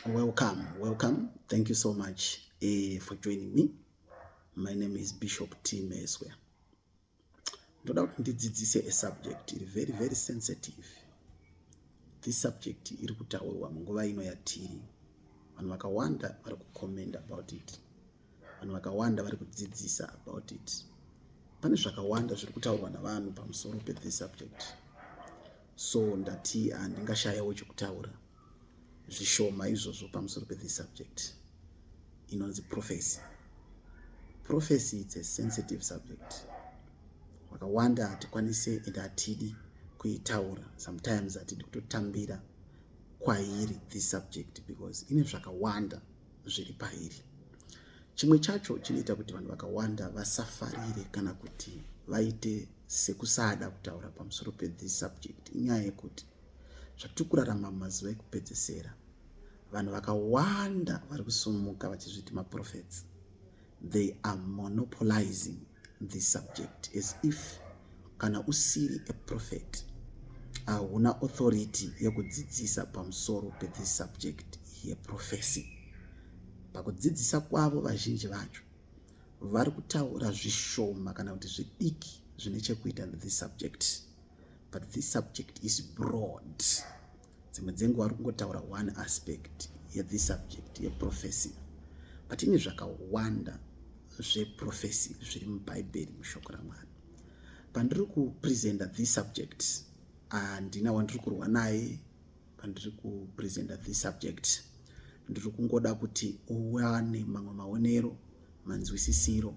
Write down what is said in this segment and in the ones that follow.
Welcome, welcome. Thank you so much uh, for joining me. My name is Bishop T. Meswe. Ndoda kuti ndidzidzise a subject iri very very sensitive. This subject iri kutaurwa munguva ino yatiri. Vanhu vakawanda vari kucomment about it. vanhu vakawanda vari kudzidzisa about it pane zvakawanda zviri kutaurwa navanhu pamusoro pethis subject so ndati handingashayawo ah, chekutaura zvishoma izvozvo pamusoro pethis subject inonzi prophecy prophecy its a sensitive subject vakawanda hatikwanise and hatidi kuitaura sometimes hatidi kutotambira kwairi this subject because ine zvakawanda zviri pairi. Chimwe chacho chinoita kuti vanhu vakawanda vasafarire kana kuti vaite sekusada kutaura pamusoro pethis subject inyaya yekuti zvatiri kurarama mumazuva ekupedzesera vanhu vakawanda vari kusumuka vachizviti maprofets they are monopolizing the subject as if kana usiri a prophet hauna uh, authority yekudzidzisa pamusoro pethis subject yeprofesi pakudzidzisa kwavo vazhinji vacho vari kutaura zvishoma kana kuti zvidiki zvine chekuita nethis subject but this subject is broad dzimwe dzenguva ari kungotaura one aspect yethis subject yeprofesi but ine zvakawanda zveprofesi zviri mubhaibheri mushoko ramwari pandiri kupresenta this subject handina ah, wandiri kurwa naye pandiri kupresenta this subject ndiri kungoda kuti uwane mamwe maonero manzwisisiro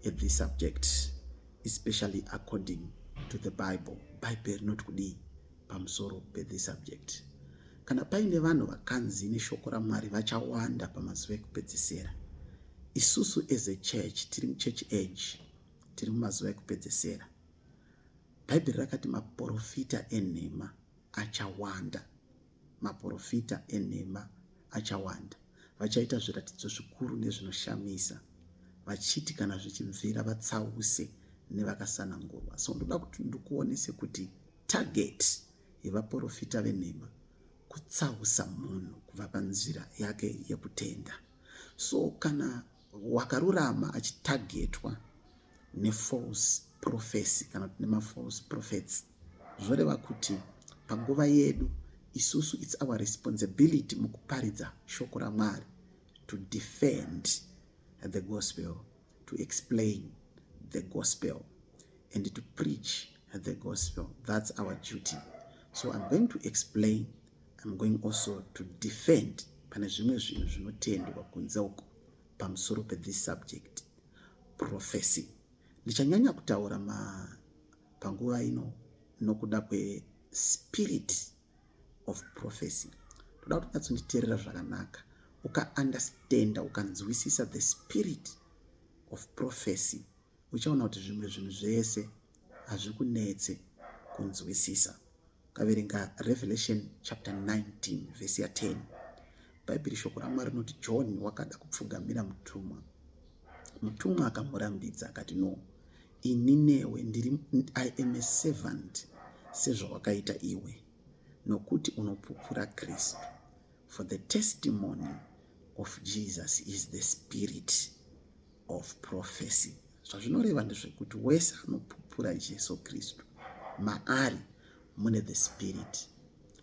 ethis subject especially according to the bible bhaibheri rinoti kudii pamusoro pe this subject. Kana paine vanhu vakanzi neshoko raMwari vachawanda pamazuva ekupedzesera, isusu as a church tiri muchurch age, tiri mumazuva ekupedzesera. Bhaibheri rakati maporofita enhema achawanda, maporofita enhema achawanda, vachaita zviratidzo zvikuru nezvinoshamisa, vachiti kana zvichibvira vatsause nevakasanangurwa. So ndoda kuti ndikuonese kuti Target yevaporofita venhema kutsausa munhu kubva panzira yake yekutenda so kana wakarurama achitargetwa nefalse prophecy kana kuti nemafalse prophets zvoreva kuti panguva yedu isusu its our responsibility mukuparidza shoko ramwari to defend the gospel to explain the gospel and to preach the gospel. That's our duty. So I'm going to explain, I'm going also to defend pane zvimwe zvinhu zvinotendwa kunze uko pamusoro pethis subject prophecy ndichanyanya kutaura ma panguva ino nokuda kwespirit of prophecy ndoda kuti unyatsonditeerera zvakanaka ukaunderstanda ukanzwisisa the spirit of prophecy uchaona kuti zvimwe zvinhu zvese hazvikunetse kunzwisisa ukaverenga revelation chapter 19 vhesi ya 10 bhaibheri shoko ramwari rinoti john wakada kupfugamira mutumwa mutumwa akamurambidza akati no Ini newe ndiri I am a servant sezvawakaita iwe nokuti unopupura Kristu for the testimony of Jesus is the spirit of prophecy zvazvinoreva ndezvekuti wese anopupura Jesu Kristu maari mune the spirit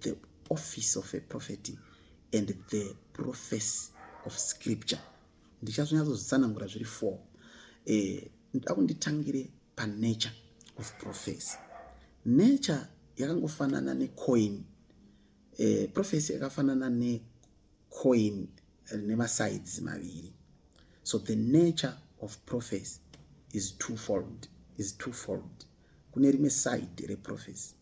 the office of a prophet and the prophecy of scripture ndichazonyatsozvitsanangura zviri four eh, ndoda kunditangire panature of prophecy nature yakangofanana necoin eh, prophecy yakafanana necoin rine masides maviri so the nature of prophecy is twofold is twofold kune rimwe side reprophecy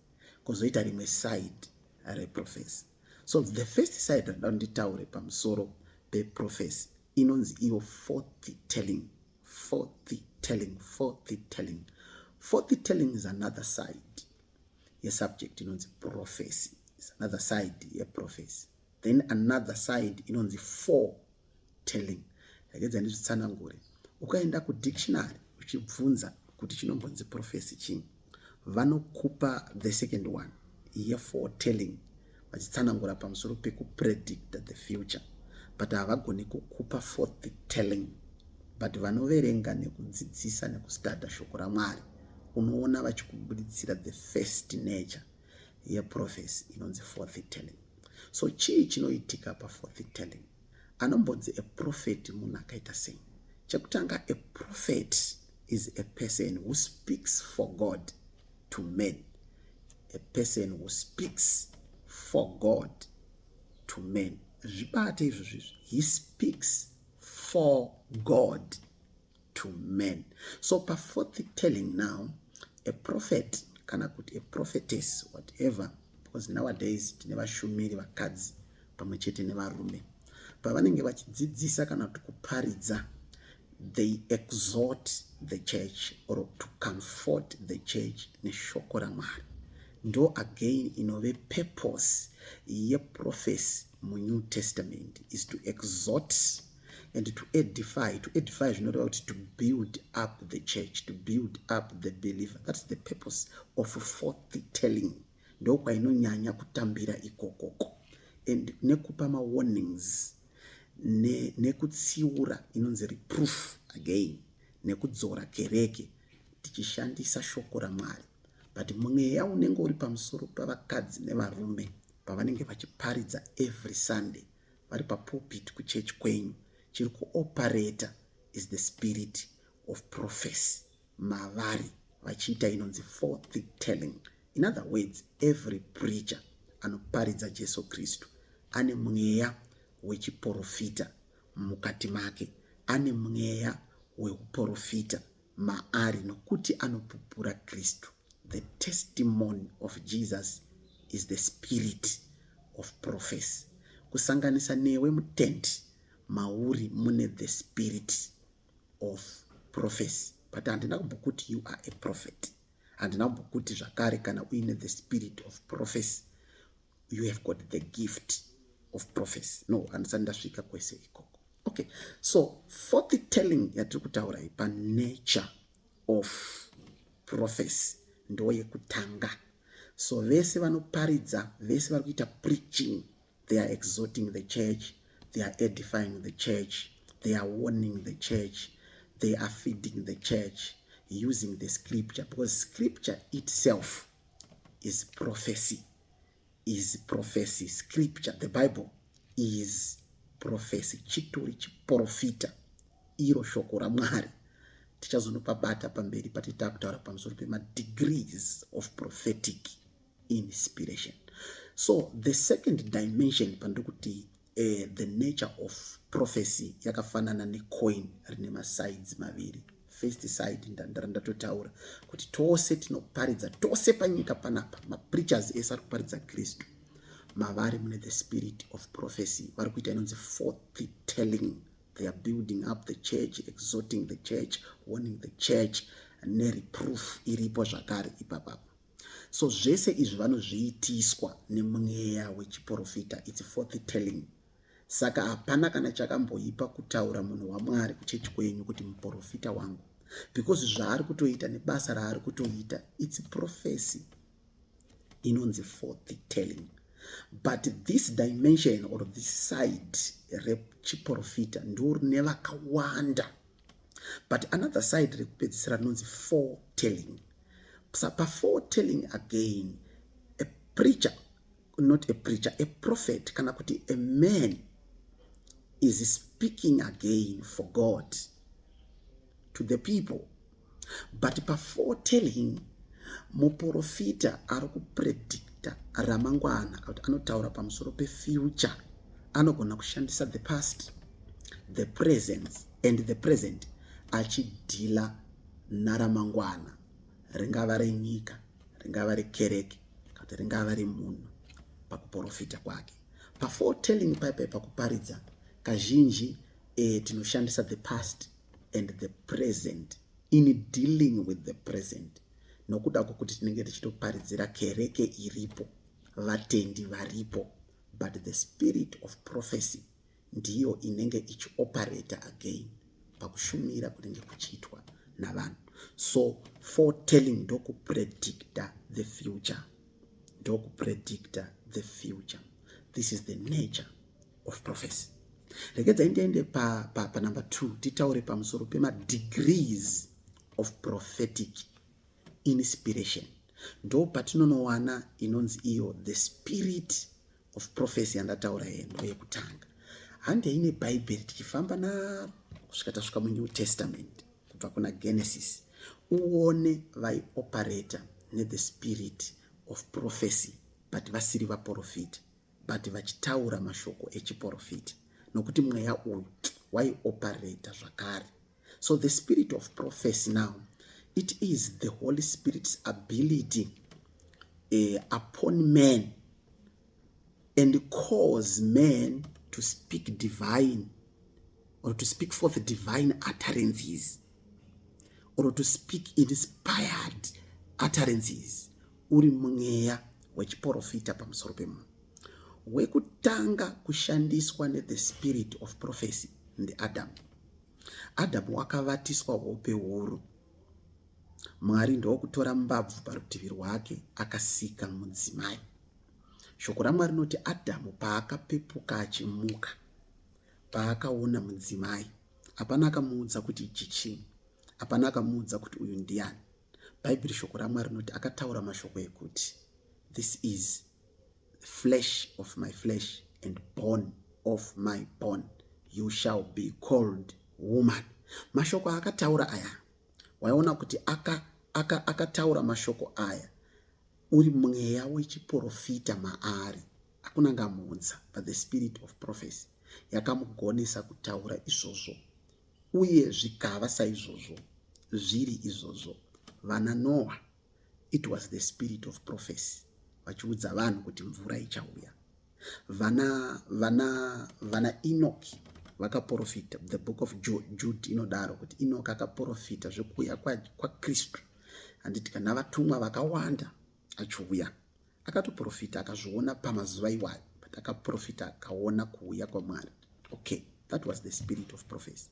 kozoita rimwe side reprofesi so the first side randida kunditaure pamusoro peprofesi inonzi iyo fourth telling fourth telling fourth telling fourth telling is another side yesubject inonzi profesi is another side yeprofesi then another side inonzi four telling regedza ndizvitsanangure ukaenda kudictionary uchibvunza kuti chinombonzi profesi chii vanokupa the second one ye for telling vachitsanangura pamusoro pekupredicta the future but havagoni kukupa for the telling but vanoverenga nekudzidzisa nekustada shoko ramwari unoona vachikubuditsira the first nature yeprophecy inonzi forth telling so chii chinoitika paforth telling anombonzi a prophet munhu akaita sei chekutanga a prophet is a person who speaks for god to men a person who speaks for god to men zvibate izvozvizvi he speaks for god to men so pa fourth telling now a prophet kana kuti a prophetess whatever because nowadays tine vashumiri vakadzi pamwe chete nevarume pavanenge vachidzidzisa kana kuti kuparidza they exhort the church or to comfort the church neshoko ramwari ndo again inove purpose yeprofesi munew testament is to exhort and to edify to edify zvinoreva kuti to build up the church to build up the believer thats the purpose of forth telling ndokwainonyanya kutambira ikokoko and nekupa mawarnings nekutsiura ne inonzi reproof again nekudzora kereke tichishandisa shoko ramwari but mweya unenge uri pamusoro pavakadzi nevarume pavanenge vachiparidza every sunday vari papulpit kuchurch kwenyu chiri kuopareta is the spirit of prophecy mavari vachiita inonzi forth telling in other words every preacher anoparidza jesu kristu ane mweya wechiporofita mukati make ane mweya weuporofita maari nokuti anopupura Kristu. The testimony of Jesus is the spirit of prophecy. Kusanganisa newe mutendi mauri mune the spirit of prophecy but handina kumbokuti you are a prophet handina kumbokuti zvakare kana uine the spirit of prophecy you have got the gift of prophecy no handisati ndasvika kwese ikoko okay so for the telling yatiri kutaura iyi panature of prophecy ndo yekutanga so vese vanoparidza vese vari kuita preaching they are exhorting the church they are edifying the church they are warning the church they are feeding the church using the scripture because scripture itself is prophecy is prophecy scripture the bible is prophecy chitori chiprofita iro shoko ramwari tichazonopabata pamberi patita kutaura pamusoro pemadegrees of prophetic inspiration so the second dimension pandiri kuti Eh, the nature of prophecy yakafanana necoin rine masides maviri first side ndandara ndatotaura kuti tose tinoparidza tose panyika panapa mapreachers ese ari kuparidza kristu mavari mune the spirit of prophecy vari kuita inonzi forth telling they are building up the church exhorting the church warning the church nereproof iripo zvakare ipapapa so zvese izvi vanozviitiswa nemweya wechiprofita its forth telling saka hapana kana chakamboipa kutaura munhu wamwari kuchechi kwenyu kuti muprofita wangu because zvaari kutoita nebasa raari kutoita its profesi inonzi forth telling but this dimension or this side rechiprofita ndorine vakawanda but another side rekupedzisira rinonzi four telling sa pafour telling again a preacher not a preacher a prophet kana kuti a man is speaking again for god to the people But before telling muporofita ari kupredicta ramangwana kuti anotaura pamusoro pefuture anogona kushandisa the past the presence and the present achidhila naramangwana ringava renyika ringava rekereke kuti ringava remunhu pakuporofita kwake paforetelling paipai pakuparidza kazhinji e, tinoshandisa the past and the present in dealing with the present nokuda kwokuti tinenge tichitoparidzira kereke iripo vatendi varipo but the spirit of prophecy ndiyo inenge ichioperator again pakushumira kunenge kuchiitwa navanhu so foretelling ndokupredicta the future ndokupredicta the future this is the nature of prophecy regedzai ndiende panumber pa, pa two titaure pamusoro pemadegrees of prophetic inspiration ndo patinonowana inonzi iyo the spirit of prophecy yandataura iye ndo yekutanga handei nebhaibheri tichifamba na kusvika tasvika munew testament kubva kuna genesis uone vaioperata nethe spirit of prophecy but vasiri vaprofita but vachitaura mashoko echiporofiti nokuti mweya uyu waioparata zvakare so the spirit of prophecy now it is the holy spirit's ability uh, upon man and cause man to speak divine or to speak forth divine utterances or to speak inspired utterances uri mweya wechiporofita pamusoro pemunhu wekutanga kushandiswa nethe spirit of prophecy ndiadamu adamu wakavatiswa hope huru mwari ndokutora mbabvu parutivi rwake akasika mudzimai shoko ramwari rinoti adamu paakapepuka achimuka paakaona mudzimai hapana akamuudza kuti ichi chii hapana akamuudza kuti uyu ndiani Bhaibheri shoko raMwari rinoti akataura mashoko ekuti this is flesh of my flesh and bone of my bone you shall be called woman. Mashoko aakataura aya waiona kuti akataura aka, aka mashoko aya uri mweya wechiprofita maari hakuna ngamuunza but the spirit of prophecy yakamugonesa kutaura izvozvo Uye zvikava saizvozvo, zviri izvozvo, vana Noa, it was the spirit of prophecy, vachiudza vanhu kuti mvura ichauya. Vana, vana, vana Enoki vakaporofita, the book of Jude inodaro kuti Enoki akaporofita zvekuuya kwaKristu. Kwa Handiti kana vatumwa vakawanda achiuya akatoprofita akazviona pamazuva iwayo but akaprofita akaona kuuya kwamwari okay that was the spirit of prophecy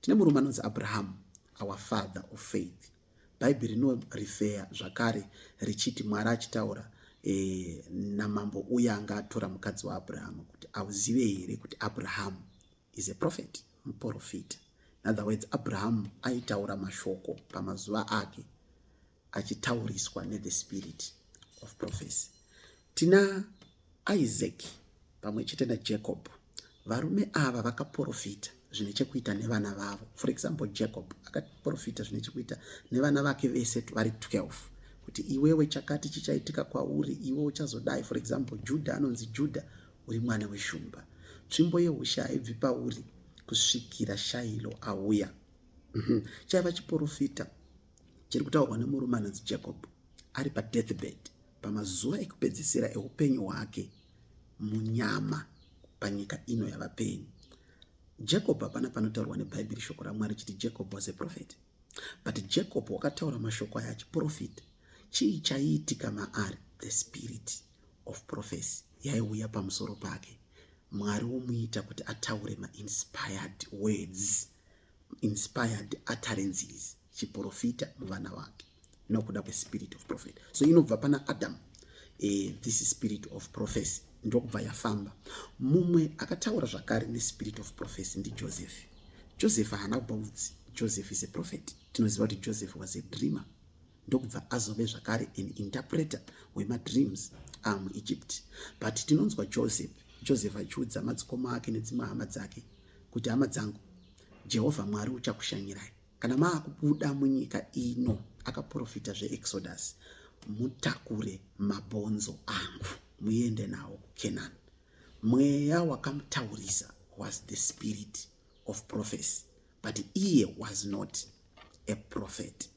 tine murume anonzi abrahamu our father of faith bhaibheri rinorifeya zvakare richiti mwari achitaura eh, namambo uye anga atora mukadzi waabrahamu kuti auzive here kuti abrahamu is a prophet muprofita in other words abrahamu aitaura mashoko pamazuva ake achitauriswa nethe spirit of prophecy tina isaac pamwe chete najacob varume ava vakaprofita zvine chekuita nevana vavo for example jacob akaprofita zvine chekuita nevana vake vese vari 12 kuti iwewe chakati chichaitika kwauri iwe uchazodai for example juda anonzi juda uri mwana weshumba tsvimbo yeushe haibvi pauri kusvikira shailo auya mhm. chaiva chiprofita chiri kutaurwa nemurume anonzi jacob ari padeathbed pamazuva ekupedzisira eupenyu hwake munyama panyika ino yavapenyu jacob hapana panotaurwa nebhaibheri shoko ramwari chiti jacob was a prophet but jacob wakataura mashoko aya achiprofita chii chaiitika maari the spirit of prophecy yaiuya pamusoro pake mwari womuita kuti ataure mainspired words inspired utterances chiprofita muvana wake nokuda kwespirit of prophet so inobva pana adam eh, this spirit of prophecy ndokubva yafamba mumwe akataura zvakare nespirit of prophecy ndijoseph joseph haana kubva mudzi joseph is a prophet tinoziva kuti joseph was a dreamer ndokubva azove zvakare an interpreter wemadreams amuegypt but tinonzwa joseph joseph achiudza madzikoma ake nedzimwe hama dzake kuti hama dzangu jehovha mwari uchakushanyirai kana maakubuda munyika ino akaprofita zveexodus mutakure mabhonzo angu muende nawo kucanaan mweya wakamutaurisa was the spirit of prophecy but iye was not a prophet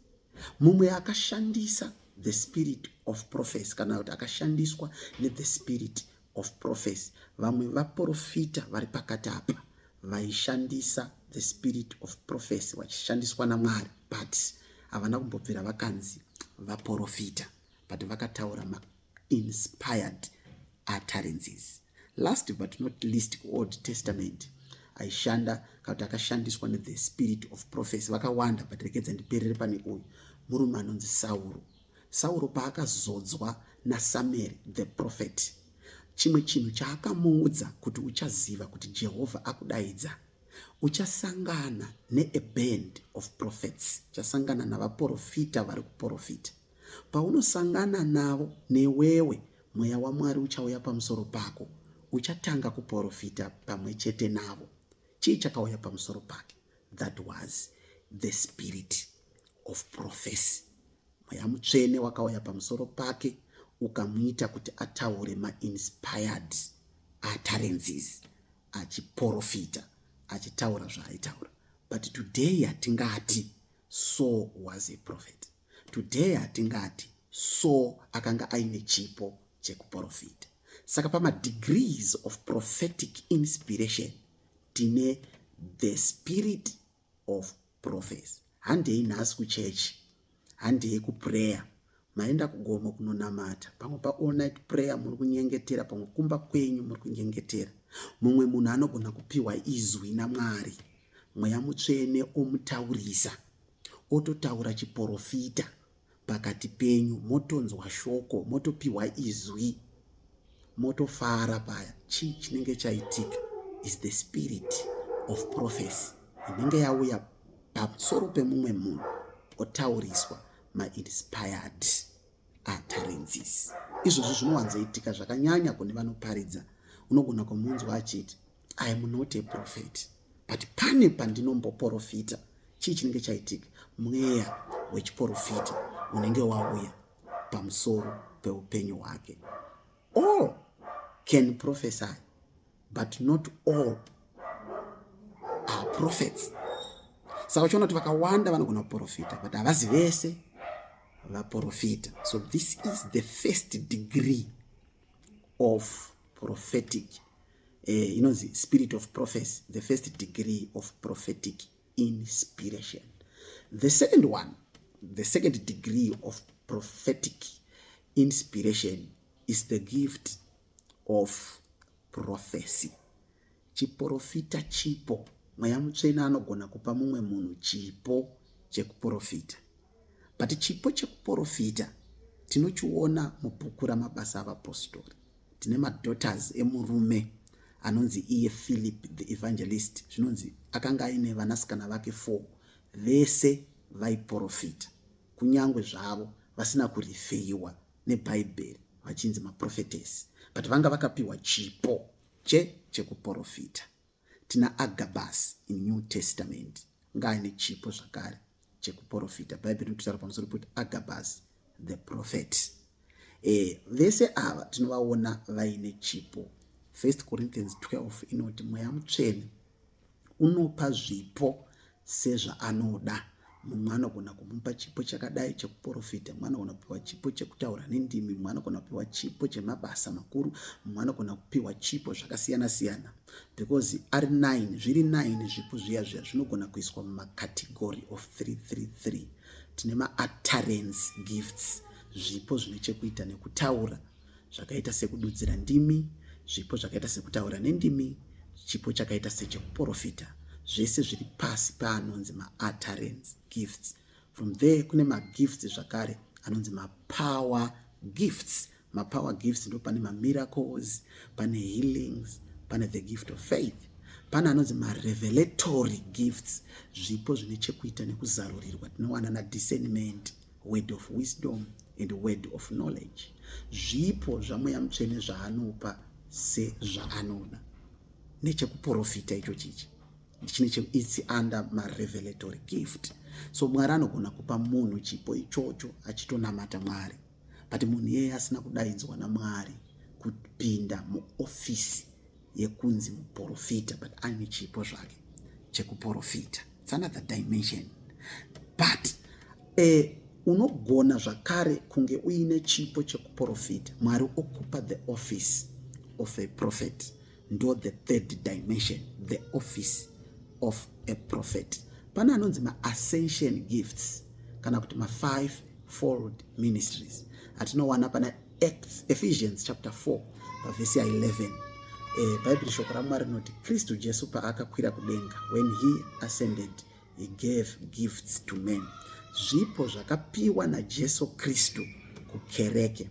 mumwe akashandisa the spirit of prophecy kana kuti akashandiswa nethe spirit of prophecy vamwe vaprofita vari pakati apa vaishandisa the spirit of prophecy vachishandiswa namwari but havana kumbobvira vakanzi vaprofita but vakataura mainspired utterances last but not least kuold testament aishanda kana kuti akashandiswa nethe spirit of prophecy vakawanda but rekedza ndiperere pane uyu murume anonzi sauro sauro paakazodzwa nasamueri the prophet chimwe chinhu chaakamuudza kuti uchaziva kuti jehovha akudaidza uchasangana neaband of prophets uchasangana navaprofita vari kuprofita Paunosangana navo, newewe Mweya waMwari uchauya pamusoro pako. Uchatanga kuporofita pamwe chete navo. Chii chakauya pamusoro pake? That was the spirit of prophecy. Mweya mutsvene wakauya pamusoro pake ukamuita kuti ataure mainspired utterances achiporofita achitaura zvaaitaura but today hatingati so was a prophet Today hatingati so akanga aine chipo chekuprofita. Saka pamadegrees of prophetic inspiration tine the spirit of prophecy. Handei nhasi kuchechi, handei kuprayer, maenda kugomo kunonamata, pamwe paall night prayer muri kunyengetera, pamwe kumba kwenyu muri kunyengetera. Mumwe munhu anogona kupiwa izwi naMwari, mweya mutsvene omutaurisa. ototaura chiporofita pakati penyu motonzwa shoko motopiwa izwi motofara paya chii chinenge chaitika is the spirit of prophecy inenge yauya pamusoro pemumwe munhu otauriswa mainspired utterances izvozvo zvinowanzoitika zvakanyanya kune vanoparidza unogona kumunzwa achiti I am not a prophet but pane pandinomboporofita chii chinenge chaitika mweya wechiporofita unenge wauya pamusoro peupenyu hwake all can prophesy but not all are prophets saka uchiona kuti vakawanda vanogona kuporofita but havazi vese vaporofita so this is the first degree of prophetic eh, inonzi spirit of prophecy the first degree of prophetic inspiration the second one the second degree of prophetic inspiration is the gift of prophecy chiporofita chipo mweya mutsvene anogona kupa mumwe munhu chipo chekuporofita but chipo chekuporofita tinochiona mubhuku ramabasa avapostori tine madaughters emurume anonzi iye philip the evangelist zvinonzi akanga aine vanasikana vake four vese vaiporofita kunyange zvavo vasina kurifeiwa nebhaibheri vachinzi maprofetesi but vanga vakapiwa chipo che chekuporofita tina agabus in new testament ngaane chipo zvakare chekuprofita bhaibheri rinotaura pamusoro pekuti agabus the prophet e, vese ava tinovaona vaine chipo first corinthians 12 inoti mweya mutsvene unopa zvipo sezvaanoda mumwe anogona kumupa chipo chakadai chekuprofita mumwe anogona kupiwa chipo chekutaura nendimi mumwe anogona kupiwa chipo chemabasa makuru mumwe anogona kupiwa chipo zvakasiyana siyana because ari 9 zviri 9 zvipo zviya zviya zvinogona kuiswa mumacategory of 333 tine maatarens gifts zvipo zvine chekuita nekutaura zvakaita sekududzira ndimi, zvipo zvakaita sekutaura nendimi, chipo chakaita sechekuporofita, zvese zviri pasi paanonzi mautterance gifts. From there kune magifts zvakare anonzi mapower gifts. Mapower gifts ndo pane mamiracles, pane healings, pane the gift of faith, pane anonzi marevelatory gifts, zvipo zvine chekuita nekuzarurirwa tinowana nadiscernment. word of wisdom and word of knowledge zvipo zvamweya mutsvene zvaanopa sezvaanoda nechekuprofita icho chichi its under marevelatory gift so mwari anogona kupa munhu chipo ichocho achitonamata mwari but munhu iyeye asina kudaidzwa namwari kupinda muofisi yekunzi muporofita but aine chipo zvake chekuporofita its another dimension but uh, unogona zvakare kunge uine chipo chekuporofita mwari okupa the office of a prophet ndo the third dimension the office of a prophet pane anonzi maascension gifts kana kuti mafive fold ministries atinowana pana Acts, Ephesians chapter 4 pavhesi ya 11 eh, bhaibheri shoko ramwari rinoti kristu jesu paakakwira kudenga when he ascended he gave gifts to men zvipo zvakapiwa najesu kristu kukereke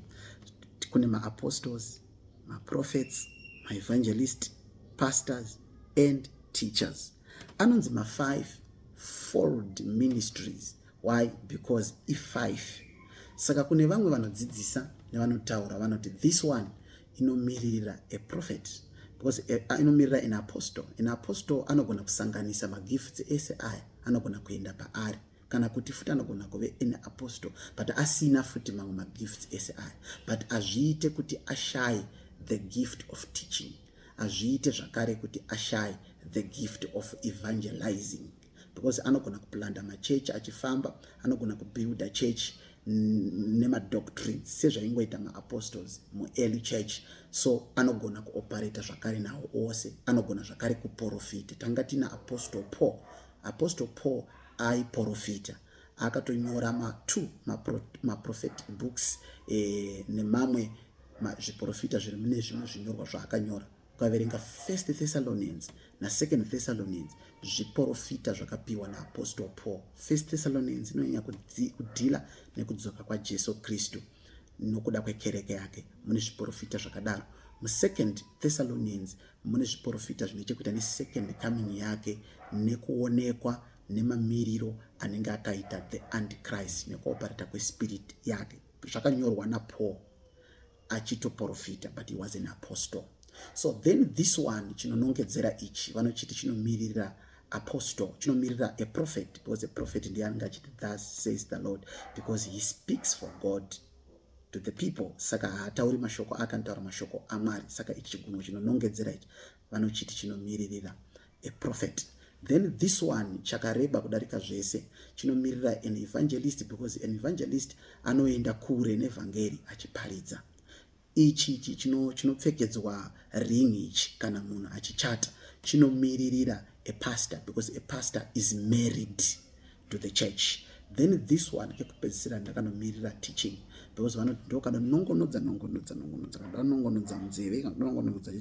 kune maapostles maprophets maevangelist pastors and teachers anonzi mafive fold ministries why because ifive saka kune vamwe vanodzidzisa nevanotaura vanoti this one inomiririra a prophet because eh, ah, inomirira an apostle an apostle anogona kusanganisa magifts ese aya anogona kuenda paari kana kuti futi anogona kuve an apostle but asina futi mamwe magifts ese aya but azviite kuti ashaye the gift of teaching azviite zvakare kuti ashaye the gift of evangelizing because anogona kuplanda machechi achifamba anogona kubuilda chechi nemadoctrines sezvaingoita maapostles muearly church so anogona kuoperata zvakare nawo ose anogona zvakare kuprofita tanga tina apostle paul apostle paul aiprofita akatonyora matwo maprophetic books e, nemamwe zviprofita zviri mune zvimwe zvinyorwa zvaakanyora ukaverenga first thessalonians nasecond thessalonians zviporofita zvakapiwa naapostle paul first thessalonians inonyanya kudhila nekudzoka kwajesu kristu nokuda kwekereke yake mune zviporofita zvakadaro musecond thessalonians mune zviporofita zvine chekuita nesecond coming yake nekuonekwa nemamiriro anenge akaita the antichrist nekuoparata kwespirit yake zvakanyorwa napaul achitoporofita but he was an apostle so then this one chinonongedzera ichi vanochiti chinomirira apostle chinomirira a prophet because a prophet ndiye anenge achiti thus says the lord because he speaks for god to the people saka haatauri mashoko ake anotaura mashoko amwari saka ichi chigunwo chinonongedzera ichi vanochiti chinomiririra a prophet then this one chakareba kudarika zvese chinomirira an evangelist because an evangelist anoenda kure nevhangeri achiparidza ichi ichi chinopfekedzwa ring ichi kana munhu achichata chinomiririra a pastor because a pastor is married to the church then this one ekupedzisira ndakanomirira teaching because vanoti ndokanonongonodza nongonodza nongonodza kanongonodza munzeve kanongonodza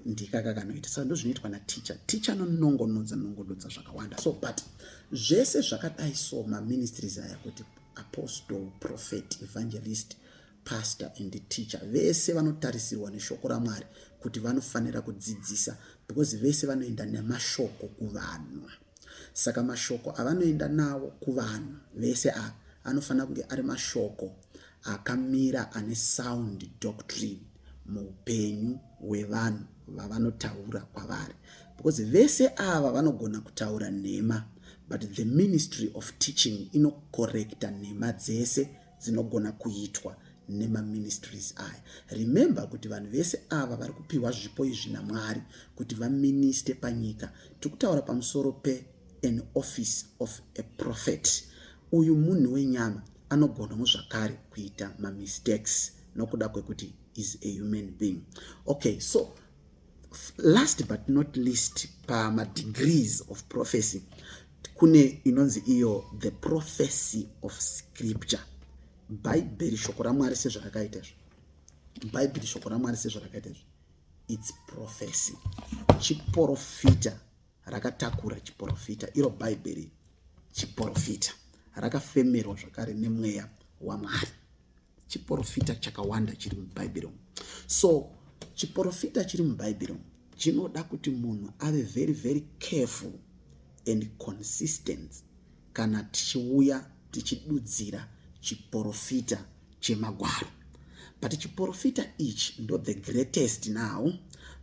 ndika kakanoita saka ndozvinoitwa naticha ticha anonongonodza nongonodza zvakawanda so but zvese zvakadai so maministries aya kuti apostle prophet evangelist pastor and teacher vese vanotarisirwa neshoko ramwari kuti vanofanira kudzidzisa because vese vanoenda nemashoko kuvanhu saka mashoko avanoenda nawo kuvanhu vese a anofanira kunge ari mashoko akamira ane sound doctrine muupenyu hwevanhu vavanotaura kwavari because vese ava vanogona kutaura nhema but the ministry of teaching inokorekta nhema dzese dzinogona kuitwa nemaministries aya remember kuti vanhu vese ava vari kupiwa zvipo izvi namwari kuti vaministe panyika tiri kutaura pamusoro pe an office of a prophet uyu munhu wenyama anogonawo zvakare kuita mamistakes nokuda kwekuti is a human being okay so last but not least pamadegrees of prophecy kune inonzi iyo the prophecy of scripture bhaibheri shoko ramwari sezvarakaita izvo bhaibheri shoko ramwari sezvarakaita izvo its prophecy chiporofita rakatakura chiporofita iro bhaibheri chiporofita rakafemerwa zvakare nemweya wamwari chiporofita chakawanda chiri mubhaibheri umu so chiporofita chiri mubhaibheri umu chinoda kuti munhu ave very very careful and consistent kana tichiuya tichidudzira chiporofita chemagwaro but chiporofita ichi ndo the greatest now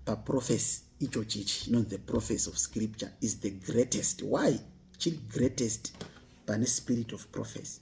paprofesi icho chichi inonzi the prophecy of scripture is the greatest why chiri greatest pane spirit of prophecy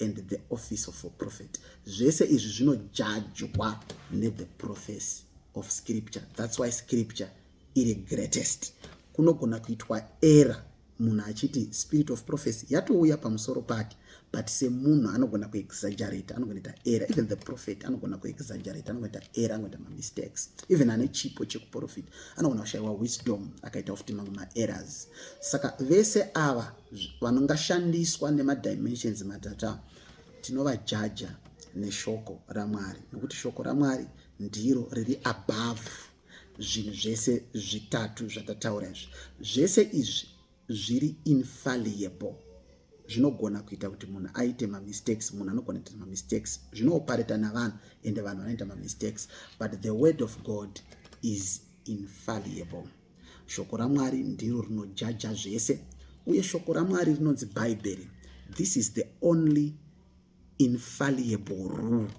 and the office of a prophet zvese izvi zvinojajwa nethe prophecy of scripture thats why scripture iri greatest kunogona kuitwa error munhu achiti spirit of prophecy yatouya pamusoro pake but semunhu anogona kuexaggerate anogona ita error even the prophet anogona kuexaggerate anogona ita error anogona ita mamistakes even ane chipo chekuprofita anogona kushayiwa wisdom akaita futi mamwe maerrors saka vese ava vangashandiswa nemadimensions matatu ava tinovajaja neshoko ramwari nokuti shoko ramwari ndiro riri above zvinhu zvese zvitatu zvatataura izvi zvese izvi zviri infalliable zvinogona kuita kuti munhu aite mamistakes munhu anogona kuita mamistakes zvinoopareta navanhu ende vanhu vanoita mamistakes but the word of god is infalliable Shoko raMwari ndiro rinojaja zvese, uye shoko raMwari rinonzi Bhaibheri. This is the only infallible rule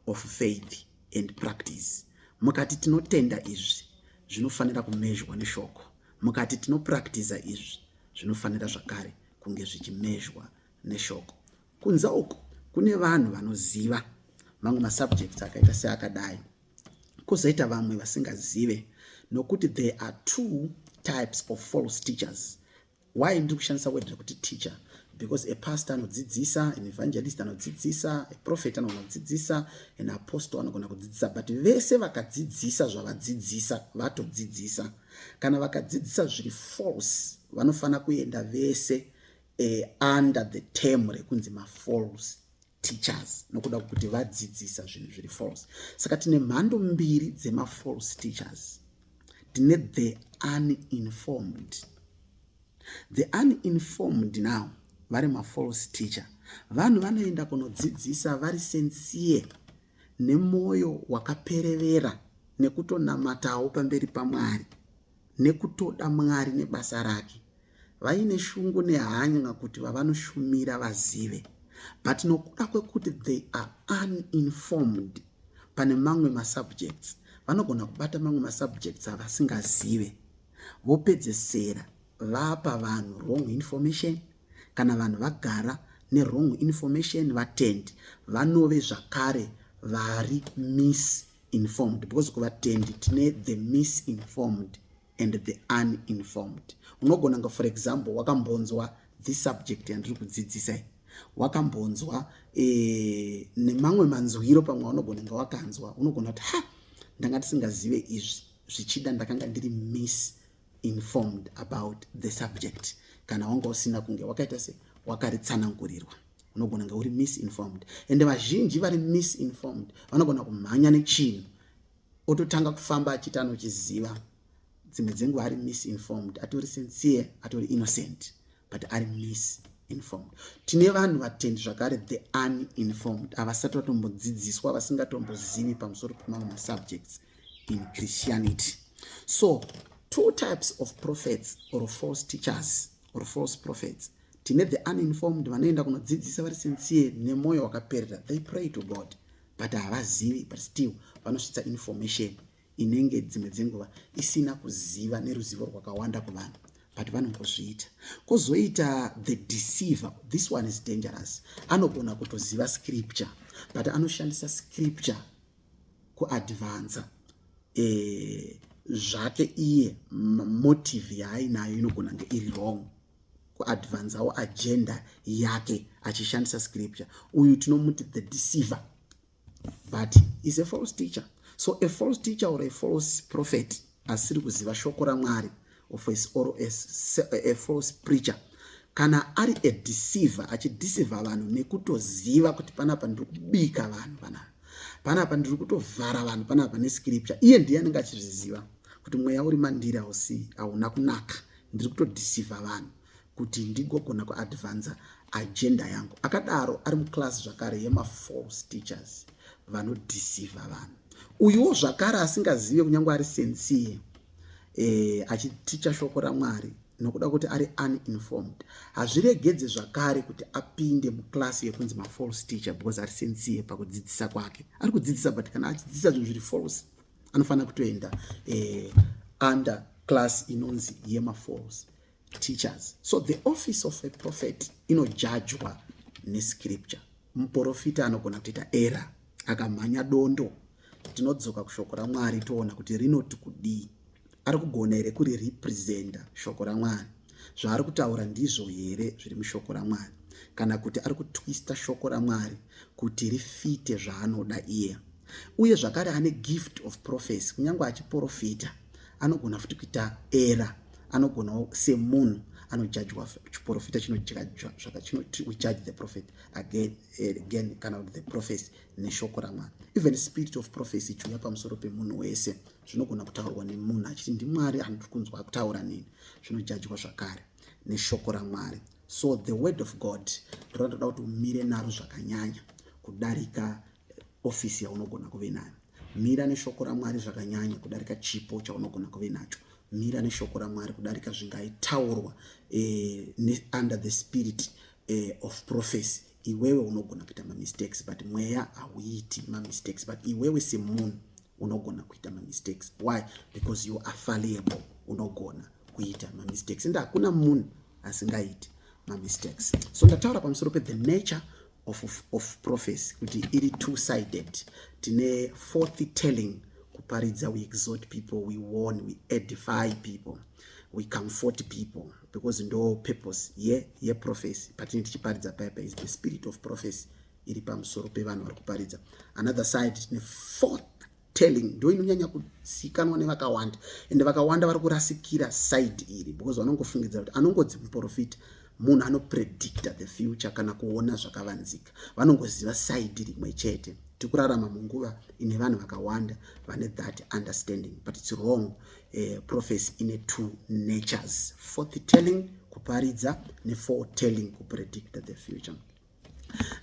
of faith and practice. Mukati tinotenda izvi zvinofanira kumezhwa neshoko. Mukati tinopractiza izvi zvinofanira zvakare kunge zvichimezhwa neshoko. Kunza uku kune vanhu vanoziva mamwe masubjects akaita seakadai kozoita vamwe vasingazive nokuti there are two types of false teachers why ndiri kushandisa word rekuti teacher because a pastor anodzidzisa an evangelist anodzidzisa a prophet anogona kudzidzisa an apostle anogona kudzidzisa but vese vakadzidzisa zvavadzidzisa vatodzidzisa kana vakadzidzisa zviri false vanofanira kuenda vese eh, under the term rekunzi mafalse teachers nokuda kwekuti vadzidzisa zvinhu zviri false saka tine mhando mbiri dzemafalse teachers tine the uninformed the uninformed now vari mafalse teacher vanhu vanoenda kunodzidzisa vari sensiye nemwoyo wakaperevera nekutonamatawo pamberi pamwari nekutoda mwari nebasa rake vaine shungu nehanya kuti vavanoshumira vazive but nokuda kwekuti they are uninformed pane mamwe masubjects vanogona kubata mamwe masubjects avasingazive vopedzesera vapa vanhu wrong information kana vanhu vagara newrong information vatendi vanove zvakare vari misinformed because kuvatendi tine the misinformed and the uninformed unogona nga for example wakambonzwa this subject yandiri kudzidzisa iyi wakambonzwa e, nemamwe manzwiro pamwe unogona nga wakanzwa unogona kuti ha ndanga tisingazive izvi zvichida ndakanga ndiri miss informed about the subject kana wanga usina kunge wakaita se wakaritsanangurirwa unogona nga uri misinformed ende vazhinji vari misinformed vanogona kumhanya nechinhu ototanga kufamba achiti anochiziva dzimwe dzenguva ari misinformed atori sincere atori innocent but ari misinformed tine vanhu vatendi zvakare the uninformed avasati vatombodzidziswa vasingatombozivi pamusoro pemamwe masubjects in christianity so two types of prophets or false teachers or false prophets tine the uninformed vanoenda kunodzidzisa vari sincere nemwoyo wakaperera they pray to god but havazivi but still vanosvitsa information inenge dzimwe dzenguva isina kuziva neruzivo rwakawanda kuvanhu but vanongozviita kozoita the deceiver this one is dangerous anogona kutoziva scripture but anoshandisa scripture kuadvansa e, eh, zvake iye motive yaainayo inogona nge iri wrong kuadvanzawo agenda yake achishandisa scripture uyu tinomuti the deceiver but is a false teacher so a false teacher or a false prophet asiri kuziva shoko ramwari of a, or a, a false preacher kana ari a deceiver achideceiver vanhu nekutoziva kuti panapa ndiri kubika vanhu panapa panapa ndiri kutovhara vanhu panapa nescripture iye ndiye anenge achizviziva kuti mweya uri mandiri hausi hauna kunaka ndiri kutodhisiva vanhu kuti ndigogona kuadvanza agenda yangu akadaro ari muclass zvakare yemafalse teachers vanodhisiva vanhu uyuwo zvakare asingazive kunyange ari sensie e, eh, achiticha shoko ramwari nokuda kuti ari uninformed hazviregedze zvakare kuti apinde muclass yekunzi mafalse teacher because ari sensie pakudzidzisa kwake ari kudzidzisa but kana achidzidzisa zvinhu zviri false anofanira kutoenda eh, under class inonzi yemafalls teachers so the office of a prophet inojajwa nescripture muprofita anogona kutoita era akamhanya dondo tinodzoka kushoko ramwari toona kuti rinoti kudii Ari kugona here kuri representa shoko raMwari? Zvaari kutaura ndizvo here zviri mushoko raMwari? Kana kuti ari kutwista shoko raMwari kuti rifite zvaanoda iye? Uye zvakare ane gift of prophecy, kunyange achiprofita anogona futi kuita era, anogonawo semunhu anojajwa chiprofita chinojajwa zvaka chinoti we judge the prophet again, eh, again kana kuti the prophecy neshoko ramwari even spirit of prophecy chiuya pamusoro pemunhu wese zvinogona kutaurwa nemunhu achiti ndimwari anoti kunzwa kutaura nini zvinojajwa zvakare neshoko ramwari so the word of god ndorandoda kuti umire naro zvakanyanya kudarika ofisi yaunogona kuve nayo mira neshoko ramwari zvakanyanya kudarika chipo chaunogona kuve nacho mira neshoko ramwari kudarika zvingaitaurwa eh, under the spirit eh, of prophecy iwewe unogona kuita mamistakes but mweya hauiti mamistakes but iwewe semunhu unogona kuita mamistakes why because you are falliable unogona kuita mamistakes ende hakuna munhu asingaiti mamistakes so ndataura pamusoro pe the nature of, of, of prophecy kuti iri two sided tine forthy telling kuparidza we exhort people we warn we edify people we comfort people because ndo purpose ye yeprofesi patine tichiparidza paipa is the spirit of prophecy iri pamusoro pevanhu vari kuparidza another side tine fourth telling ndo inonyanya kusikanwa nevakawanda ende vakawanda vari kurasikira side iri because vanongofungidzira kuti anongodzi muprofita munhu anopredicta the future kana kuona zvakavanzika vanongoziva side rimwe chete tikurarama munguva ine vanhu vakawanda vane that understanding but its wrong uh, prophecy ine two natures forth telling kuparidza nefore telling kupredict the future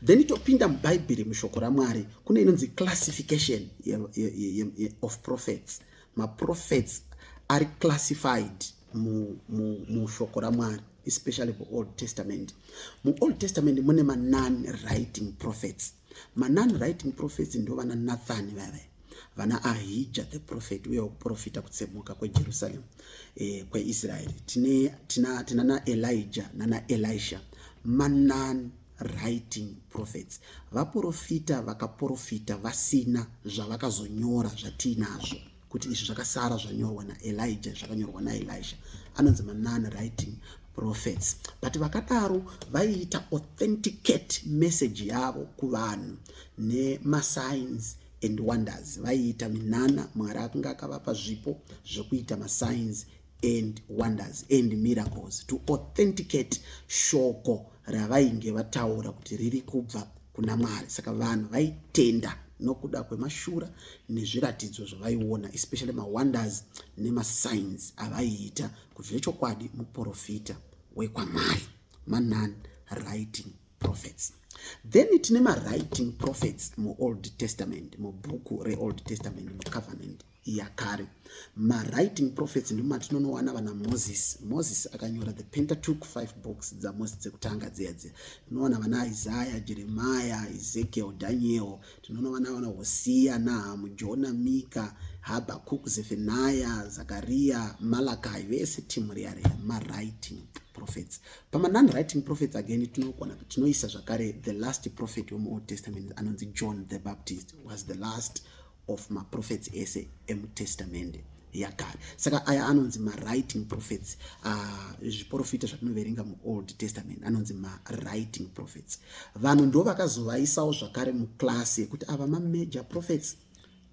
then topinda mubhaibheri mushoko ramwari kune inonzi classification ye, ye, ye, ye, of prophets maprophets ari classified mushoko ramwari especially kuold testament muold testament mune manon writing prophets manon writing prophets ndo vana nathan vava vana ahija the prophet uye wakuprofita kutsemuka kwejerusalem eh, kweisraeri tina, tina, tina naelija nana elisha manon writing prophets vaprofita vakaprofita vasina zvavakazonyora zvatiinazvo kuti izvi zvakasara zvanyorwa naelija zvakanyorwa naelisha anonzi manon writing prophets but vakadaro vaiita authenticate message yavo kuvanhu nemasigns and wonders vaiita minana mwari akunge akavapa zvipo zvekuita masigns and wonders and miracles to authenticate shoko ravainge vataura kuti riri kubva kuna mwari saka vanhu vaitenda nokuda kwemashura nezviratidzo zvavaiona especially mawonders nemasigns avaiita kuti zvechokwadi muprofita wekwamwari manon writing prophets then tine mawriting prophets muold testament mubhuku reold testament mucovenant yakare mawriting prophets ndimo matinonowana vana moses moses akanyora the pentatook five books dzamose dzekutanga dziya dziya tinoona vana isaya jeremiya ezekiel daniel tinonowana vana hosiya nahamu jona mika habakuk zefenaya zakariya malakai vese timu riya riya mawriting prophets pamanon writing prophets again tinokona tinoisa zvakare the last prophet wemuold testament anonzi john the baptist was the last of maprofets ese emutestamende yakare saka aya anonzi mawriting prophets ah, zviporofita uh, zvatinoverenga muold testament anonzi mawriting prophets vanhu ndo vakazovaisawo zvakare muclass yekuti ava mamajor prophets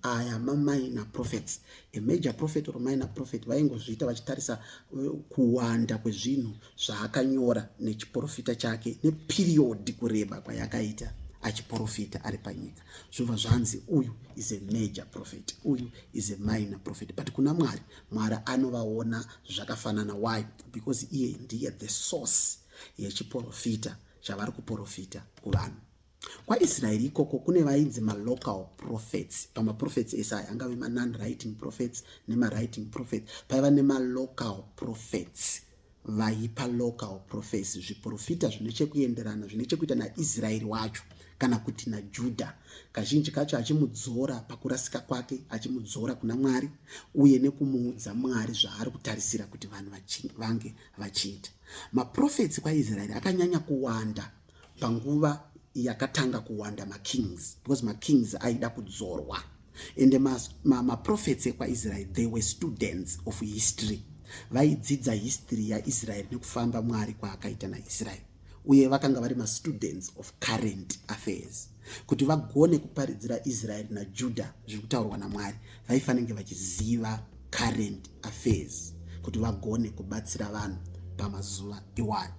aya maminor prophets a major prophet or minor prophet vaingozviita vachitarisa eh, kuwanda kwezvinhu zvaakanyora nechiporofita chake neperiod kureba kwayakaita achiporofita ari panyika zvobva zvanzi uyu is a major prophet uyu is a minor prophet but kuna mwari mwari anovaona zvakafanana why because iye ndiye the source yechiprofita chavari kuprofita kuvanhu kwaisraeri ikoko kune vainzi malocal prophets pamaprofets ese aya angave manon writing prophets nemawriting prophets paiva nemalocal prophets vaipa local prophecy zviprofita zvine chekuenderana zvine chekuita naisraeri wacho kana kuti najudha kazhinji kacho achimudzora pakurasika kwake achimudzora kuna mwari uye nekumuudza mwari zvaari kutarisira kuti vanhu vange vachiita maprofetsi kwaisraeri akanyanya kuwanda panguva yakatanga kuwanda makings because makings aida kudzorwa and maprofets ma, ma ekwaisrael they were students of history vaidzidza history yaisrael nekufamba mwari kwaakaita naisrael uye vakanga vari mastudents of current affairs kuti vagone kuparidzira israel najuda zviri kutaurwa namwari vaifanenge vachiziva current affairs kuti vagone kubatsira vanhu pamazuva iwayo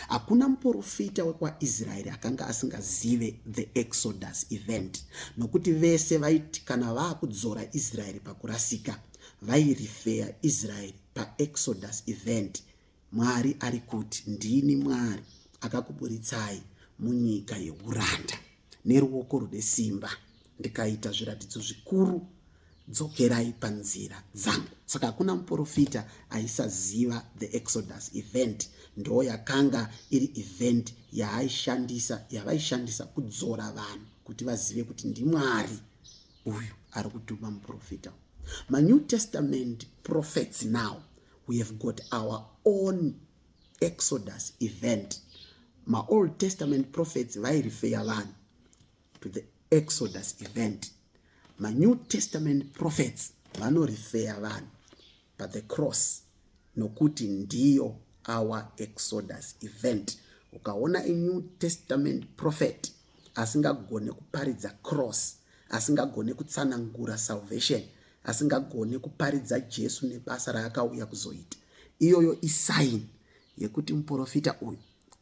Hakuna muporofita wekwaIsraeri akanga asingazive the Exodus event nokuti vese vaiti kana vaakudzora Israeri pakurasika vairifeya Israeri paExodus event. Mwari ari kuti ndini Mwari akakuburitsai munyika yeuranda neruoko rune simba. ndikaita zviratidzo zvikuru dzokerai panzira dzangu saka hakuna muprofita aisaziva the exodus event ndoo yakanga iri event yaaishandisa yavaishandisa kudzora vanhu kuti vazive kuti ndimwari uyu ari kutuma muprofita manew testament prophets now we have got our own exodus event maold testament prophets vairifeya vanhu to the exodus event manew testament prophets vanorifeya vanhu but the cross nokuti ndiyo our exodus event ukaona a new testament prophet asingagone kuparidza cross asingagone kutsanangura salvation asingagone kuparidza jesu nebasa raakauya kuzoita iyoyo isaini yekuti muprofita uyu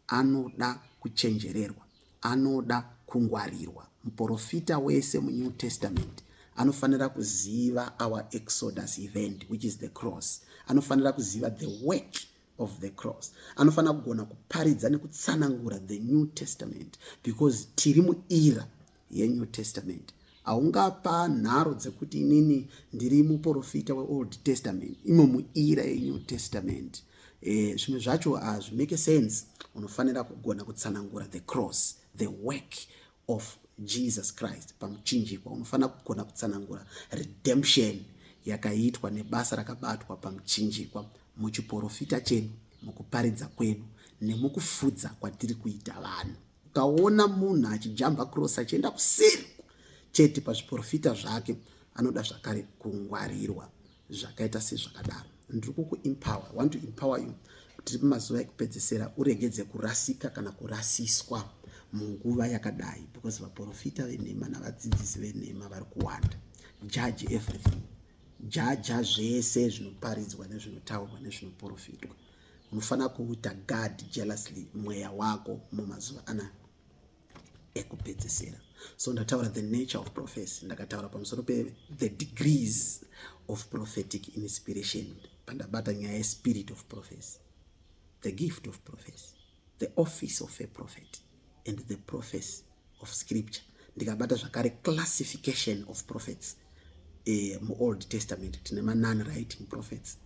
anoda kuchenjererwa anoda kungwarirwa. Muporofita wese muNew Testament anofanira kuziva our exodus event which is the cross. Anofanira kuziva the work of the cross. Anofanira kugona kuparidza nekutsanangura the New Testament because tiri muira yeNew Testament. haungapa nharo dzekuti inini ndiri muprofita weold testament imo muira yenew testament eh, zvimwe zvacho hazvimake sense unofanira kugona kutsanangura the cross the work of jesus christ pamuchinjikwa unofanira kugona kutsanangura redemption yakaitwa nebasa rakabatwa pamuchinjikwa muchiprofita chedu mukuparidza kwedu nemukufudza kwatiri kuita vanhu ukaona munhu achijamba cross achienda kuseri chete pazviprofita zvake anoda zvakare kungwarirwa zvakaita sezvakadaro ndiri kukuempower want to empower you tiri pamazuva ekupedzesera uregedze kurasika kana kurasiswa munguva yakadai because vaprofita venhema navadzidzisi venhema vari kuwanda judge everything jaja zvese zvinoparidzwa nezvinotaurwa nezvinoprofitwa unofanira kuuita guard jealously mweya wako mumazuva ana ekupedzisira so ndataura the nature of prophecy ndakataura pamusoro pe the degrees of prophetic inspiration pandabata nyaya yespirit of prophecy the gift of prophecy the office of a prophet and the prophes of scripture ndikabata zvakare classification of prophets eh, muold testament tine manon writing prophets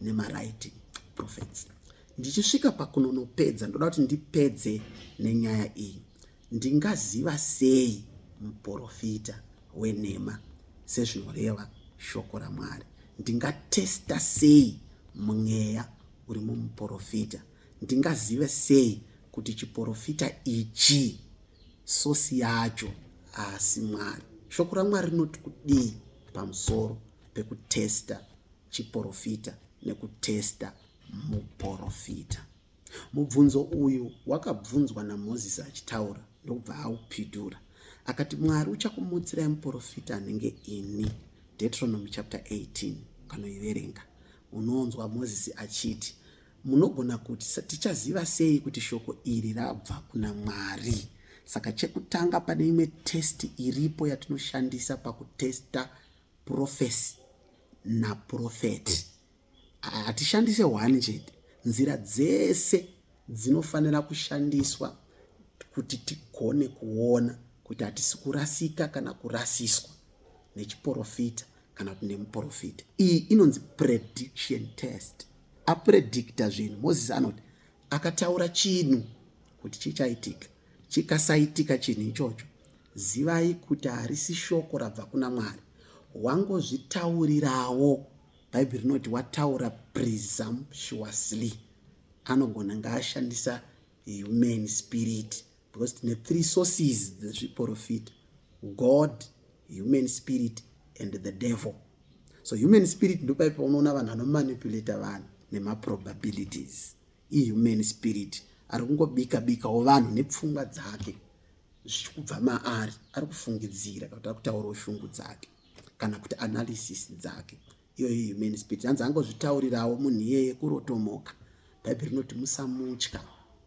nemawriting prophets ndichisvika pakunonopedza ndoda kuti ndipedze nenyaya iyi ndingaziva sei muprofita wenhema sezvinoreva shoko ramwari ndingatesta sei mweya uri mumuprofita Ndingazive sei kuti chiporofita ichi sosi yacho haasi Mwari? Shoko raMwari rinoti kudii pamusoro pekutesta chiporofita nekutesta muporofita? Mubvunzo uyu wakabvunzwa naMozisi achitaura ndokubva aupidura akati, Mwari uchakumutsirai muporofita anenge ini. Deuteronomy chapter 18 ukanoiverenga unoonzwa Mozisi achiti Munogona kuti, Tichaziva sei kuti shoko iri rabva kuna Mwari? Saka chekutanga pane imwe testi iripo yatinoshandisa pakutesta purofesi napurofeti. Hatishandise hwani chete, nzira dzese dzinofanira kushandiswa kuti tigone kuona kuti hatisi kurasika kana kurasiswa nechiporofita kana kuti nemuporofita. Iyi inonzi prediction test. apredicta zvinhu moses anoti akataura chinhu kuti chichaitika chikasaitika chinhu ichocho zivai kuti harisi shoko rabva kuna mwari wangozvitaurirawo bhaibheri rinoti wataura presumptuously anogona ngaashandisa human spirit because tine three sources dzezviporofita god human spirit and the devil so human spirit ndopai paunoona vanhu vanomanipulata vanhu nemaprobabilities ihuman spirit ari kungobika bikawo vanhu nepfungwa dzake zvichikubva maari ari kufungidzira kana kuti ari kutaurawo shungu dzake kana kuti analysis dzake iyoyo ihuman spirit hanzi angozvitaurirawo munhu iyeye kurotomoka bhaibheri rinoti musamutya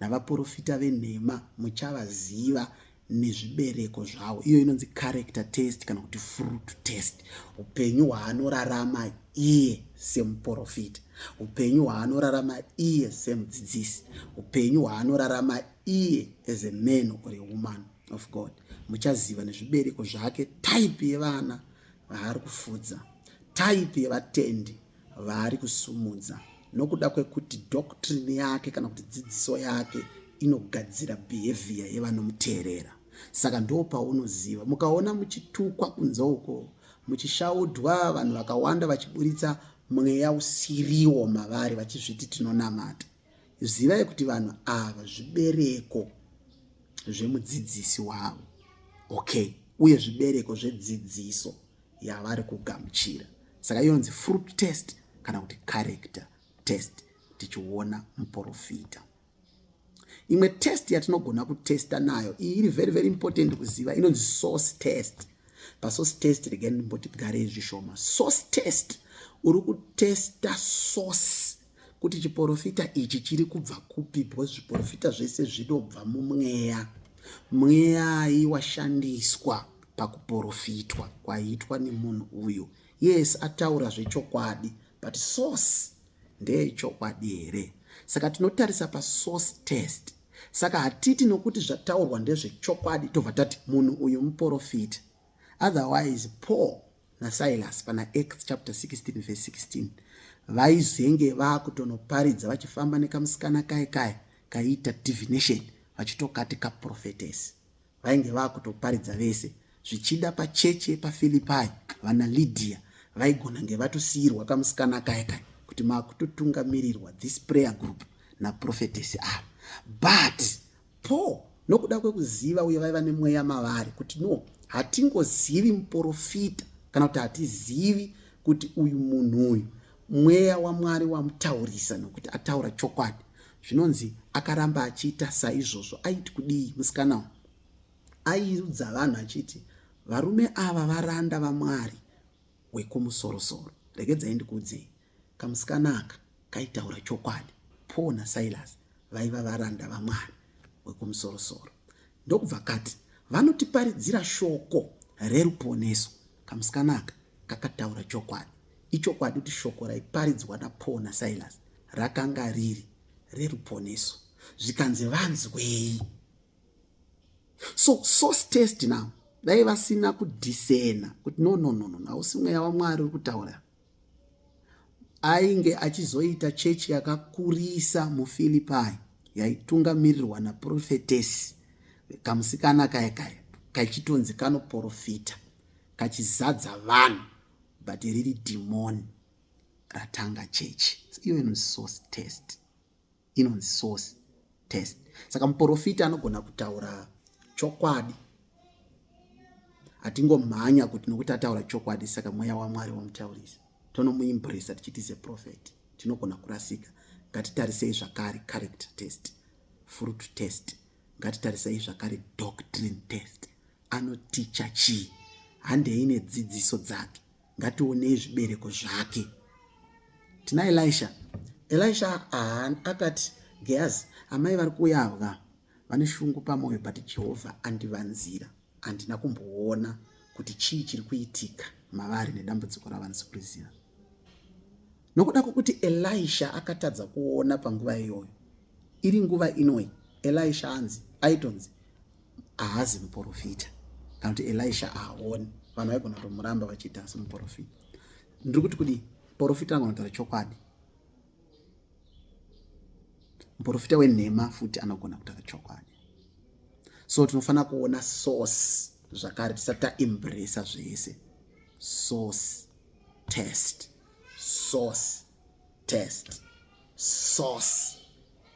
navaporofita venhema muchavaziva nezvibereko zvavo iyo inonzi character test kana kuti fruit test upenyu hwaanorarama iye semuporofita upenyu hwaanorarama iye semudzidzisi upenyu hwaanorarama iye as a man or a woman of god muchaziva nezvibereko zvake type yevana vaari kufudza type yevatendi vaari kusumudza nokuda kwekuti doctrine yake kana kuti dzidziso yake inogadzira behavior yevanomuteerera saka ndo paunoziva mukaona muchitukwa kunze uko muchishaudwa vanhu vakawanda vachiburitsa mweya usiriwo mavari vachizviti tinonamata zivai kuti vanhu ava zvibereko zvemudzidzisi wavo okay uye zvibereko zvedzidziso yavari kugamuchira saka yonzi fruit test kana kuti character test tichiona muporofita imwe test yatinogona kutesta nayo iyi iri very very important kuziva inonzi source test pasource test regai ndimboti tigare zvishoma source test uri kutesta source kuti chiporofita ichi chiri kubva kupi because zviporofita zvese zvinobva mumweya mweyai washandiswa pakuporofitwa kwaiitwa nemunhu uyu yes ataura zvechokwadi but source ndeyechokwadi here saka tinotarisa pasource test saka hatiti nokuti zvataurwa ndezvechokwadi tobva tati munhu uyu muporofita otherwise paul nasilas pana acts chapter 16 verse 16 vaizenge vakutonoparidza vachifamba nekamusikana kai kai kaiita divination vachitokati kaprofetesi vainge vakutoparidza vese zvichida pacheche pafilipai vana lydia vaigona nge vatosiirwa kamusikana kai kai kuti makutotungamirirwa this prayer group naprofetesi ava but Paul nokuda kwekuziva uye vaiva nemweya mavari kuti no hatingozivi muporofita kana kuti hatizivi kuti uyu munhu uyu mweya wamwari wamutaurisa nokuti ataura chokwadi zvinonzi akaramba achiita saizvozvo aiti kudii musikana uyu aiudza vanhu achiti varume ava varanda vamwari wekumusorosoro regedzai ndikuudzei Kamusikana aka kaitaura chokwadi. Paul naSilas vaiva varanda vaMwari wekumusorosoro ndokubva kati vanotiparidzira shoko reruponeso. Kamusikana aka kakataura chokwadi. Ichokwadi kuti shoko raiparidzwa naPaul naSilas rakanga riri reruponeso. Zvikanzi vanzwei? So source test now dai vasina kudhisena kuti no no no no hausi mweya waMwari uri kutaura Ainge achizoita chechi yakakurisa muFilipai yaitungamirirwa naprofetesi kamusikana kaya kaya kachitonzi kanoprofita kachizadza vanhu but riri dhimoni ratanga chechi even source test inonzi source test saka muporofita anogona kutaura chokwadi hatingomhanya kuti nokuti ataura chokwadi saka mweya wamwari wamutaurisa tonomuimbresa tichiti ze prophet tinogona kurasika ngatitarisei zvakare character test fruit test ngatitarisei zvakare doctrine test anoticha chii handei nedzidziso dzake ngationei zvibereko zvake tina elisha elisha ahan akati gehazi amai vari kuuya ava vane shungu pamwoyo but jehovha andivanzira handina kumboona kuti chii chiri kuitika mavari nedambudziko ravanisi kuriziva nokuda kwokuti elisha akatadza kuona panguva iyoyo iri nguva inoi elisha anzi aitonzi ahazi muporofita kana kuti elisha ahaoni vanhu vaigona kutomuramba vachiita asi muporofita ndiri kuti kudii muporofita anogona kutaura chokwadi muporofita wenhema futi anogona kutaura chokwadi so tinofanira kuona source zvakare tisati taembresa zvese source test source test source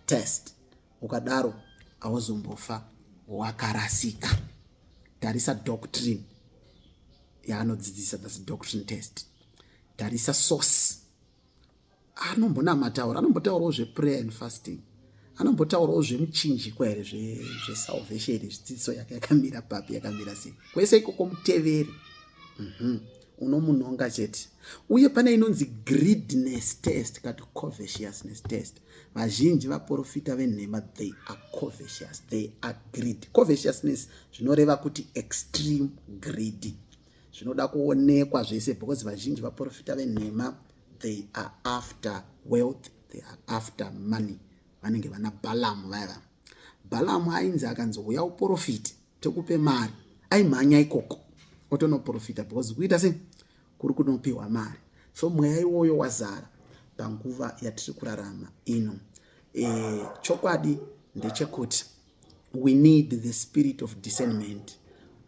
test ukadaro hauzombofa wakarasika tarisa doctrine yaanodzidzisa thats doctrine test tarisa source anombonamataura anombotaurawo zveprayer and fasting anombotaurawo zvemuchinjikwa here zvesalvation here zvidzidziso yake yakamira papi yakamira sei kwese ikoko muteveri mhm. unomunonga chete uye pane inonzi greedness test kati covetousness test vazhinji vaporofita venhema they are covetious they are greedy covetousness zvinoreva kuti extreme greedy zvinoda kuonekwa zvese because vazhinji vaporofita venhema they are after wealth they are after money vanenge vana balamu vaiva balamu ainzi akanzi huya uporofiti tokupe mari aimhanya ikoko otonoporofita because kuita sei kuri kunopiwa mari so mweya iwoyo wazara panguva yatiri kurarama ino e, chokwadi ndechekuti we need the spirit of discernment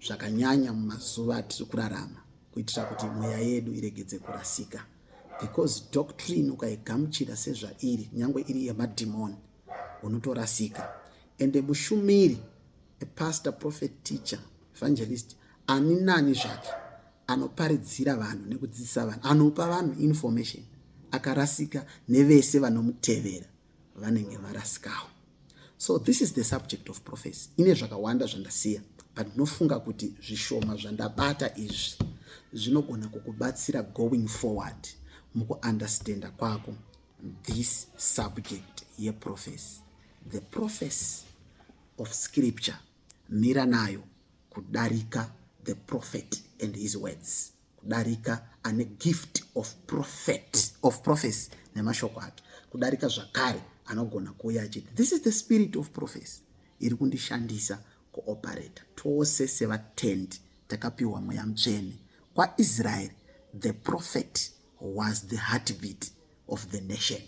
zvakanyanya mumazuva atiri kurarama kuitira kuti mweya yedu iregedze kurasika because doctrine ukaigamuchira sezvairi nyange iri yemadhimoni unotorasika ende mushumiri a pastor prophet teacher evangelist ani nani zvake anoparidzira vanhu nekudzidzisa vanhu anopa vanhu information akarasika nevese vanomutevera vanenge varasikawo so this is the subject of prophecy ine zvakawanda zvandasiya but ndinofunga kuti zvishoma zvandabata izvi zvinogona kukubatsira going forward mukuunderstanda kwako this subject yeprofesi the profesi of scripture mira nayo kudarika the prophet and his words kudarika ane gift of prophet of prophecy nemashoko ake kudarika zvakare anogona kuuya achiti this is the spirit of prophecy iri kundishandisa kuoperata tose sevatendi takapiwa mweya mutsvene kwaisraeri the prophet was the heartbeat of the nation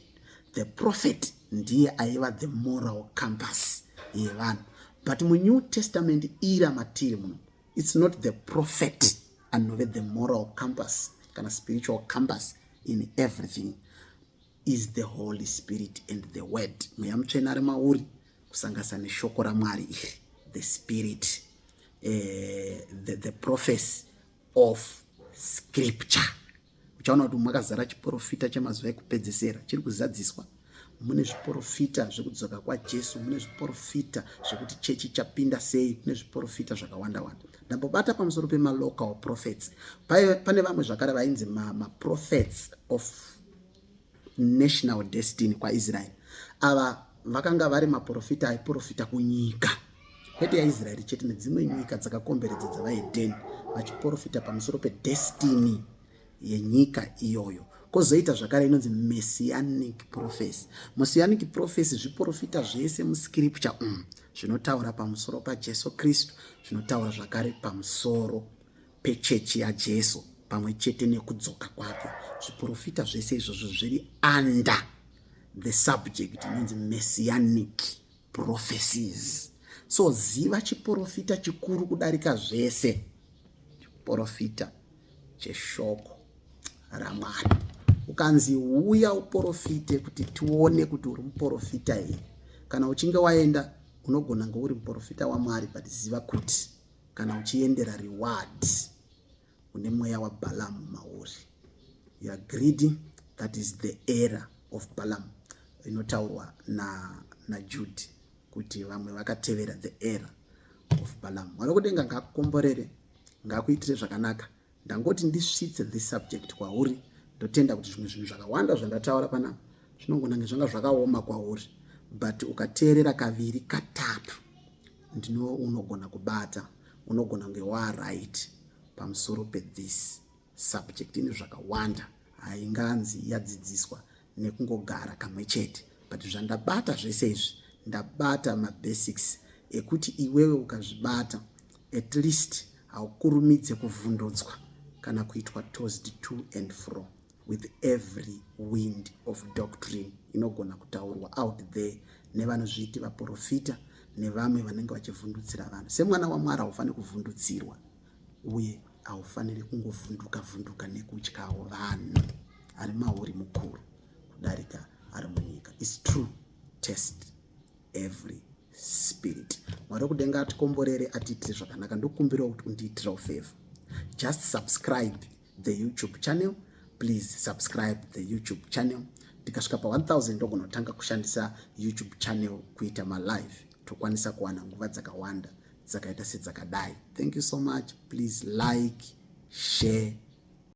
the prophet ndiye aiva the moral compass yevanhu but munew testament ira matiri muno its not the prophet anove the moral compass kana spiritual compass in everything is the holy spirit and the word mweya mutsvena ari mauri kusanganisa neshoko ramwari iri the spirit uh, the, the prophecy of scripture uchaona kuti makazara chiporofita chemazuva ekupedzesera chiri kuzadziswa mune zviporofita zvekudzoka kwajesu mune zviporofita zvekuti chechi chapinda sei mune zviporofita zvakawanda wanda ndambobata pamusoro pemalocal prophets pane vamwe zvakare vainzi maprophets ma of national destiny kwaisraeri ava vakanga vari maprofita aiprofita kunyika kwete yaisraeri chete nedzimwe nyika dzakakomberedza dzavaedheni vachiprofita pamusoro pedestiny yenyika iyoyo kozoita zvakare inonzi messianic prophecy messianic prophecy zviprofita zvese muscripture umu mm, zvinotaura pamusoro pajesu kristu zvinotaura zvakare pamusoro pechechi yaJesu pamwe chete nekudzoka kwake. Zviprofita zvese izvozvo zviri under the subject inonzi messianic prophecies. So ziva chiprofita chikuru kudarika zvese, chiprofita cheshoko raMwari. Ukanzi uya uprofite kuti tione kuti uri muprofita here, kana uchinge waenda unogona ngouri muprofita waMwari, but ziva kuti kana uchiendera reward une mweya wabalamu mauri you are greedy that is the error of balamu inotaurwa na, na jude kuti vamwe vakatevera the error of balamu wari kudenga ngakukomborere ngakuitire zvakanaka ndangoti ndisvitse this subject kwauri ndotenda kuti zvimwe zvinhu zvakawanda zvandataura panapa zvinongonange zvanga zvakaoma kwauri but ukateerera kaviri katatu ndino unogona kubata unogona kunge waaright pamusoro pethis subject ine zvakawanda hainganzi yadzidziswa nekungogara kamwe chete but zvandabata zvese izvi ndabata mabasics ekuti iwewe ukazvibata at least haukurumidze kuvhundutswa kana kuitwa toast to and fro with every wind of doctrine inogona kutaurwa out there nevanozviiti vaprofita nevamwe vanenge vachivhundutsira vanhu semwana wamwari haufaniri kuvhundutsirwa uye haufaniri kungovhunduka vhunduka nekutyawo vanhu ari mauri mukuru kudarika ari munyika is true test every spirit mwari wekudenga atikomborere atiitire zvakanaka ndokumbirawo kuti undiitirawo favor just subscribe the youtube channel please subscribe the youtube channel ndikasvika pa 1000 ndogonotanga kushandisa youtube channel kuita malive tokwanisa kuwana nguva dzakawanda dzakaita sedzakadai thank you so much please like share